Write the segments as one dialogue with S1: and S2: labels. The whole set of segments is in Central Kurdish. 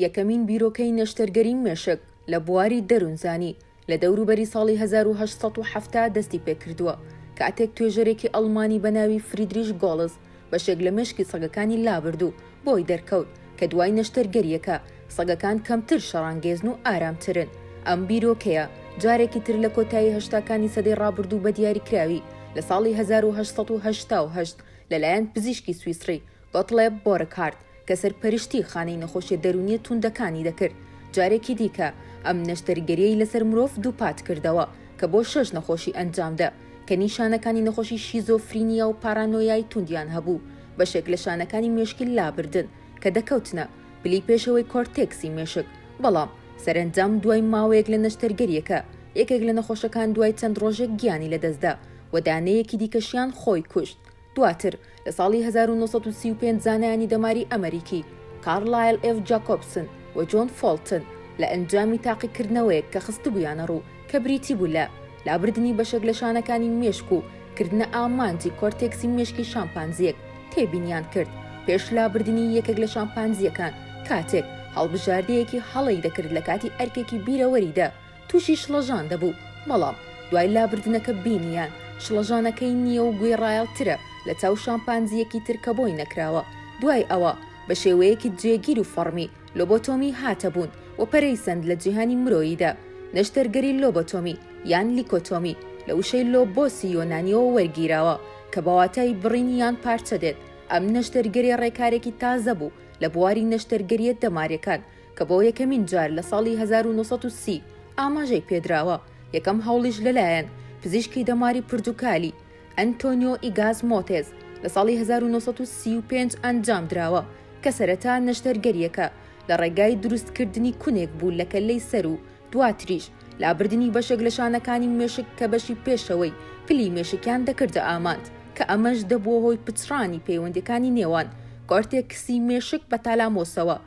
S1: یەکەمین بیرۆکەی نەشتەرگەری مێشک لە بواری دەروونزانی لە دەوروبەری ساڵی هەزار و هەشت سەد و حەفتا دەستی پێکردووە، کاتێک توێژەرێکی ئەڵمانی بە ناوی فریدریش گۆڵز بەشێک لە مێشکی سەگەکانی لابرد و بۆی دەرکەوت کە دوای نەشتەرگەرییەکە سەگەکان کەمتر شەڕانگێزن و ئارامترن. ئەم بیرۆکەیە جارێکی تر لە کۆتایی هەشتاکانی سەدەی ڕابردوو بە دیاریکراوی لە ساڵی هەزار و هەشت سەد و هەشتا و هەشت لەلایەن پزیشکی سویسڕی گۆتڵێب بۆرکهارت کە سەرپەرشتی خانەی نەخۆشیە دەروونیە تووندەکانی دەکرد، جارێکی دیکە ئەم نەشتەرگەریەی لەسەر مرۆڤ دووپات کردەوە کە بۆ شەش نەخۆشی ئەنجامدە کە نیشانەکانی نەخۆشی شیزۆفرینیا و پارانۆیای تووندیان هەبوو بەشێک لە شانەکانی مێشکی لابردن کە دەکەوتنە پلی پێشەوەی کۆرتێکسی مێشک بەڵام سەرەنجام دوای ماوەیەک لە نەشتەرگەریەکە یەکێک لە نەخۆشەکان دوای چەند ڕۆژێک گیانی لەدەستدا و دانەیەکی دیکەشیان خۆی کوشت. دواتر لە ساڵی هەزار و نۆ سەد و سی و پێنج زانایانی دەماری ئەمەریکی، کارلایل ئێف جاکۆبسن و جۆن فۆڵتن، لە ئەنجامی تاقیکردنەوەیەک کە خستبوویانە ڕوو کە بریتی بوو لە لابردنی بەشێک لە شانەکانی مێشک و کردنە ئامانجی کۆرتێکسی مێشکی شامپانزییەک، تێبینیان کرد پێش لابردنی یەکێک لە شامپانزییەکان کاتێک هەڵبژاردەیەکی هەڵەی دەکرد لە کاتی ئەرکێکی بیرەوەریدا، تووشی شڵەژان دەبوو، بەڵام دوای لابردنەکە بینییان شڵەژانەکەی نییە و گوێڕایەڵترە لە چاو شامپانزییەکی تر کە بۆی نەکراوە، دوای ئەوە بە شێوەیەکی جێگیر و فەڕمی لۆبۆتۆمی هاتە بوون و پەرەی سەند لە جیهانی مرۆییدا، نەشتەرگەری لۆبۆتۆمی یان لیکۆتۆمی لە وشەی لۆبۆسی یۆنانییەوە وەرگیراوە کە بە واتای بڕین یان پارچە دێت، ئەم نەشتەرگەری ڕێکارێکی تازە بوو لە بواری نەشتەرگەرییە دەمارییەکان کە بۆ یەکەمین جار لە ساڵی هەزار و نۆ سەد و سی ئاماژەی پێدراوە، یەکەم هەوڵیش لەلایەن پزیشکی دەماری پرتوکالی، ئەنتۆنیۆ ئیگاز مۆتێز، لە ساڵی هەزار و نۆ سەد و سی و پێنج ئەنجامدراوە، کە سەرەتا نەشتەرگەرییەکە لە ڕێگای دروستکردنی کونێک بوو لە کەللەی سەر و دواتریش لابردنی بەشێک لە شانەکانی مێشک کە بەشی پێشەوەی پلی مێشکیان دەکردە ئامانج کە ئەمەش دەبووە هۆی پچڕانی پەیوەندییەکانی نێوان کۆرتێکسی مێشک بە تالامۆسەوە.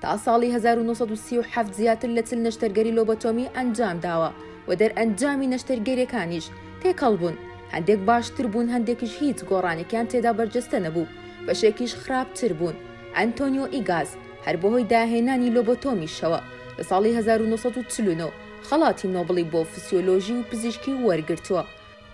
S1: تا ساڵی هەزار و نۆ سەد و سی و حەفت زیاتر لە چل نەشتەرگەری لۆبۆتۆمی ئەنجام داوە و دەرئەنجامی نەشتەرگەریەکانیش تێکەڵ بوون، هەندێک باشتر بوون هەندێکیش هیچ گۆڕانێکیان تێدا بەرجەستە نەبوو، بەشێکیش خراپتر بوون. ئەنتۆنیۆ ئیگاز هەر بەهۆی داهێنانی لۆبۆتۆمیشەوە لە ساڵی هەزار و نۆ سەد و چل و نۆ خەڵاتی نۆبڵی بۆ فسیۆلۆژی و پزیشکی وەرگرتووە،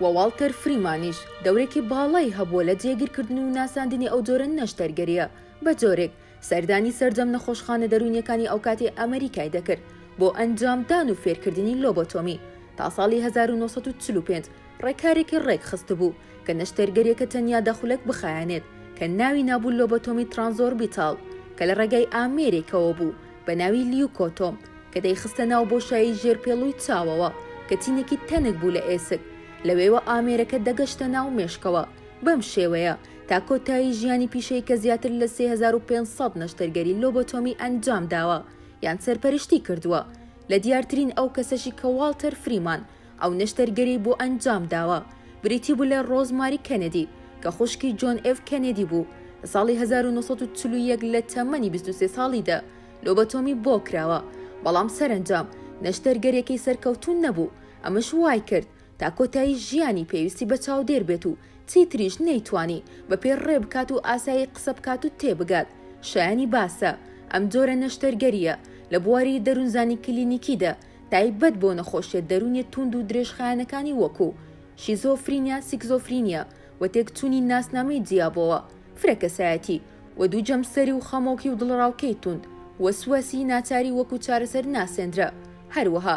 S1: وە واڵتەر فریمانیش دەورێکی باڵای هەبووە لە جێگیرکردن و ناساندنی ئەو جۆرە نەشتەرگەرییە بە جۆرێک سەردانی سەرجەم نەخۆشخانە دەروونیەکانی ئەوکاتی ئەمریکای دەکرد بۆ ئەنجام دان و فێرکردنی لۆبۆتۆمی، تا ساڵی هەزار و نۆ سەد و چل و پێنج ڕێکارێکی ڕێکخستبوو کە نەشتەرگەریەکە تەنیا دە خولەک بخایەنێت کە ناوی نابوو لۆبۆتۆمی ترانزۆربیتاڵ کە لە ڕێگای ئامێرێکەوە بوو بە ناوی لیوکۆتۆم کە دەیخستە ناو بۆشایی ژێر پێڵوی چاوەوە کە چینێکی تەنک بوو لە ئێسک لەوێوە ئامێرەکە دەگەشتە ناو مێشکەوە بەم شێوەیە تا کۆتایی ژیانی پیشەی کە زیاتر لە سێ هەزار و پێنج سەد نەشتەرگەری لۆبۆتۆمی ئەنجام داوە یان سەرپەرشتی کردووە، لە دیارترین ئەو کەسەشی کە واڵتەر فریمان ئەو نەشتەرگەریی بۆ ئەنجام داوە بریتی بوو لە ڕۆز ماری کەنێدی کە خوشکی جۆن ئێف کەنێدی بوو لە ساڵی هەزار و نۆ سەد و چل و یەک لە تەمەنی بیست و سێ ساڵیدا لۆبۆتۆمی بۆ کراوە بەڵام سەرەنجام نەشتەرگەریەکەی سەرکەوتوو نەبوو ئەمەش وایکرد تا کۆتایی ژیانی پێویستی بە چاودێر بێت و چیتریش نەیتوانی بە پێ ڕێ بکات و ئاسایی قسە بکات و تێ بگات شایەنی باسە ئەم جۆرە نەشتەرگەرییە لە بواری دەروونزانی کلینیکیدا تایبەت بۆ نەخۆشیە دەروونیە تووند و درێژخایەنەکانی وەکوو شیزۆفرینیا سیکزۆفرینیا و تێکچوونی ناسنامەی جیابۆوە فرە کەسایەتی و دوو جەمسەری و خەمۆکی و دڵەڕاوکێی تووند وەسواسی ناچاری وەکوو چارەسەر ناسێندرا هەروەها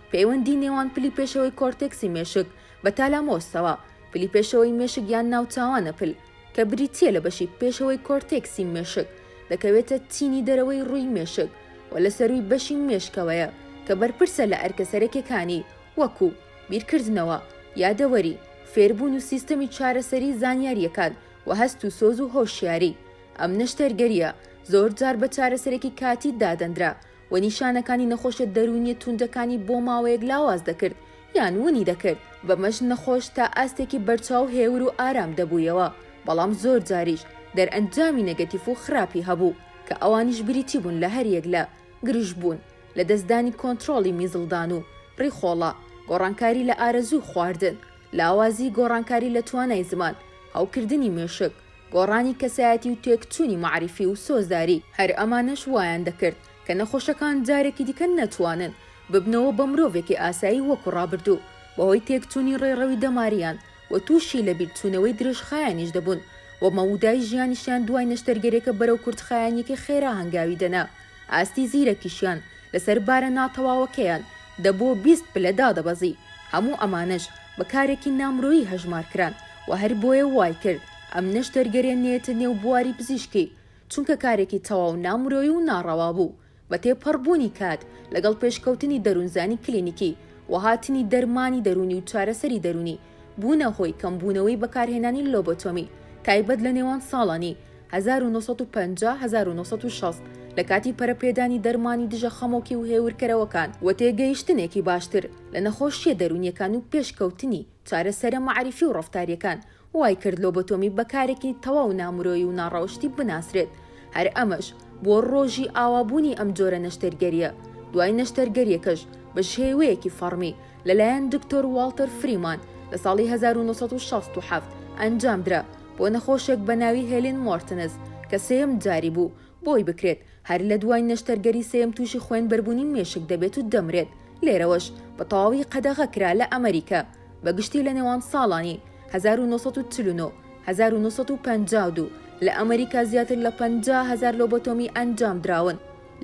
S1: پەیوەندی نێوان پلی پێشەوەی کۆرتێکسی مێشک بە تالامۆسەوە، پلی پێشەوەی مێشک یان ناوچاوانە پل، کە بریتییە لە بەشی پێشەوەی کۆرتێکسی مێشک، دەکەوێتە چینی دەرەوەی ڕووی مێشک و لە سەرووی بەشی مێشکەوەیە کە بەرپرسە لە ئەرکە سەرەکیەکانی وەکوو، بیرکردنەوە، یادەوەری، فێربوون و سیستەمی چارەسەری زانیارییەکان و هەست و سۆز و هۆشیاری. ئەم نەشتەرگەرییە زۆرجار بە چارەسەرێکی کاتی دادەندرا و نیشانەکانی نەخۆشە دەروونیە توندەکانی بۆ ماوەیەک لاواز دەکرد یان ونی دەکرد، بەمەش نەخۆش تا ئاستێکی بەرچاو هێور و ئارام دەبوویەوە، بەڵام زۆر جاریش دەرئەنجامی نەگەتیف و خراپی هەبوو کە ئەوانیش بریتی بوون لە هەریەک لە، گرژبوون، لەدەستدانی کۆنترۆڵی میزڵدان و ڕیخۆڵە، گۆڕانکاری لە ئارەزووی خواردن، لاوازی گۆڕانکاری لە توانای زمان، هەوکردنی مێشک. گۆڕانی کەسایەتی و تێکچوونی مەعریفی و سۆزداری، هەر ئەمانەش وایان دەکرد کە نەخۆشەکان جارێکی دیکە نەتوانن ببنەوە بە مرۆڤێکی ئاسایی وەکو ڕابردوو، بەهۆی تێکچوونی ڕێڕەوی دەماریان و تووشی لەبیرچوونەوەی درێژخایەنیش دەبوون و مەودای ژیانیشیان دوای نەشتەرگەریەکە بەرەو کورتخایەنیەکی خێرا هەنگاوی دەنا. ئاستی زیرەکیشیان لەسەر بارە ناتەواوەکەیان دەبۆ بیست پلە دادەبەزی، هەموو ئەمانەش بە کارێکی نامرۆیی هەژمار کران و هەر بۆیە وای کرد ئەمنەش دەرگەرێنێتە نێو بواری پزیشکی، چونکە کارێکی تەواو نامرۆیی و ناڕەوا بوو، بە تێپەڕ بوونی کات لەگەڵ پێشکەوتنی دەروونزانی کلینیکی و هاتنی دەرمانی دەروونی و چارەسەری دەروونی، بوونە هۆی کەمبوونەوەی بەکارهێنانی لۆبۆتۆمی تایبەت لە نێوان ساڵانی هەزار و نۆ سەد و پەنجا هەزار و نۆ سەد و شەست لە کاتی پەرەپێدانی دەرمانی دژە خەمۆکی و هێورکەرەوەکان و تێگەیشتنێکی باشتر لە نەخۆشییە دەروونییەکان و پێش کەوتنی چارەسەرە مەعریفی و ڕەفتارییەکان وای کرد لۆبۆتۆمی بە کارێکی تەواو نامرۆیی و ناڕەوشتی بناسرێت هەر ئەمەش بۆ ڕۆژی ئاوا بوونی ئەم جۆرە نەشتەرگەرییە دوای نەشتەرگەرییەکەش بە شێوەیەکی فەڕمی لەلایەن دکتۆر واڵتەر فریمان لە ساڵی هەزار و نۆ سەد و شەست و حەفت ئەنجامدرا بۆ نەخۆشێک بە ناوی هێلین مۆرتنز کە سێیەم جاری بوو بۆی بکرێت هەر لە دوای نەشتەرگەری سێیەم تووشی خوێنبەربوونی مێشک دەبێت و دەمرێت لێرەوەش بە تەواوی قەدەغە کرا لە ئەمەریکا بە گشتی لە نێوان ساڵانی هەزار و نۆ سەد و چل و نۆ هەزار و نۆ سەد و پەنجا و دوو لە ئەمەریکا زیاتر لە پەنجا هەزار لۆبۆتۆمی ئەنجامدراون.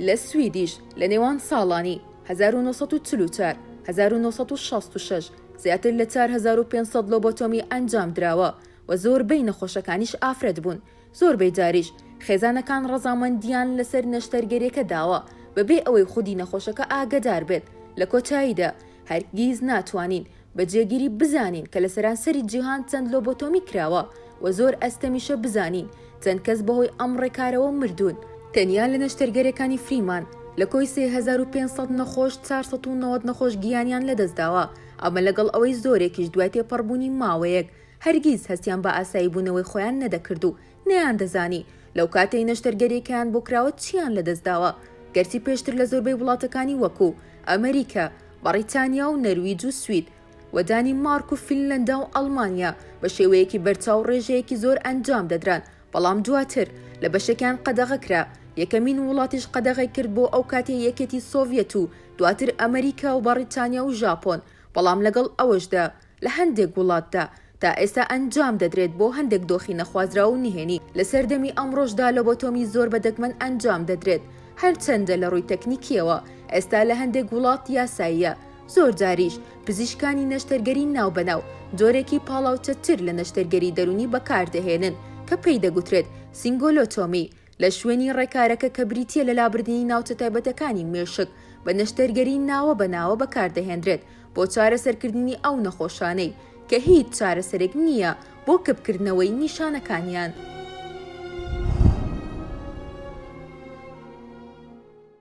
S1: لە سویدیش لە نێوان ساڵانی هەزار و نۆ سەد و چل و چوار، هەزار و نۆ سەد و شەست و شەش زیاتر لە چوار هەزار و پێنج سەد لۆبۆتۆمی ئەنجام دراوە و زۆربەی نەخۆشەکانیش ئافرەت بوون، زۆربەی جاریش خێزانەکان ڕەزامەندیان لەسەر نەشتەرگەریەکە داوە بەبێ ئەوەی خودی نەخۆشەکە ئاگەدار بێت، لە کۆتاییدا هەرگیز ناتوانین بە جێگیری بزانین کە لە سەرانسەری جیهان چەند لۆبۆتۆمی کراوە و زۆر ئەستەمیشە بزانین چەند کەس بەهۆی ئەم ڕێکارەوە مردوون. تەنیا لە نەشتەرگەریەکانی فریمان لە کۆی سێ هەزار و پێنج سەد نەخۆش چوار سەد و نەوەد نەخۆش گیانیان لەدەستداوە، ئەمە لەگەڵ ئەوەی زۆرێکیش دوای تێپەڕبوونی ماوەیەک هەرگیز هەستیان بە ئاساییبوونەوەی خۆیان نەدەکرد و نەیاندەزانی لەو کاتەی نەشتەرگەریەکەیان بۆ کراوە چیان لەدەست داوە، گەرچی پێشتر لە زۆربەی وڵاتەکانی وەکوو، ئەمریکا، بەڕیتانیا و نەرویج و سوید، و دانیمارک و فینلەندا و ئەڵمانیا بە شێوەیەکی بەرچاو ڕێژەیەکی زۆر ئەنجام دەدران، بەڵام دواتر لە بەشێکیان قەدەغە کرا، یەکەمین وڵاتیش قەدەغەی کرد بۆ ئەو کاتی یەکێتی سۆڤیەت و دواتر ئەمریکا و بەڕیتانیا و ژاپۆن، بەڵام لەگەڵ ئەوەشدا، لە هەندێک وڵاتدا تا ئێستا ئەنجام دەدرێت بۆ هەندێک دۆخی نەخوازراو و نهێنی، لە سەردەمی ئەمڕۆشدا لۆبۆتۆمی زۆر بە دەگمەن ئەنجام دەدرێت، هەرچەندە لە ڕووی تەکنیکییەوە ئێستا لە هەندێک وڵات یاساییە، زۆرجاریش پزیشکانی نەشتەرگەری ناوبەناو جۆرێکی پاڵاوچەتر لە نەشتەرگەری دەروونی بەکاردەهێنن کە پێی دەگوترێت سینگۆلۆتۆمی، لە شوێنی ڕێکارەکە کە بریتییە لە لابردنی ناوچە تایبەتەکانی مێشک بە نەشتەرگەری ناوە بە ناوە بەکاردەهێنرێت بۆ چارەسەرکردنی ئەو نەخۆشانەی کە هیچ چارەسەرێک نییە بۆ کپکردنەوەی نیشانەکانیان.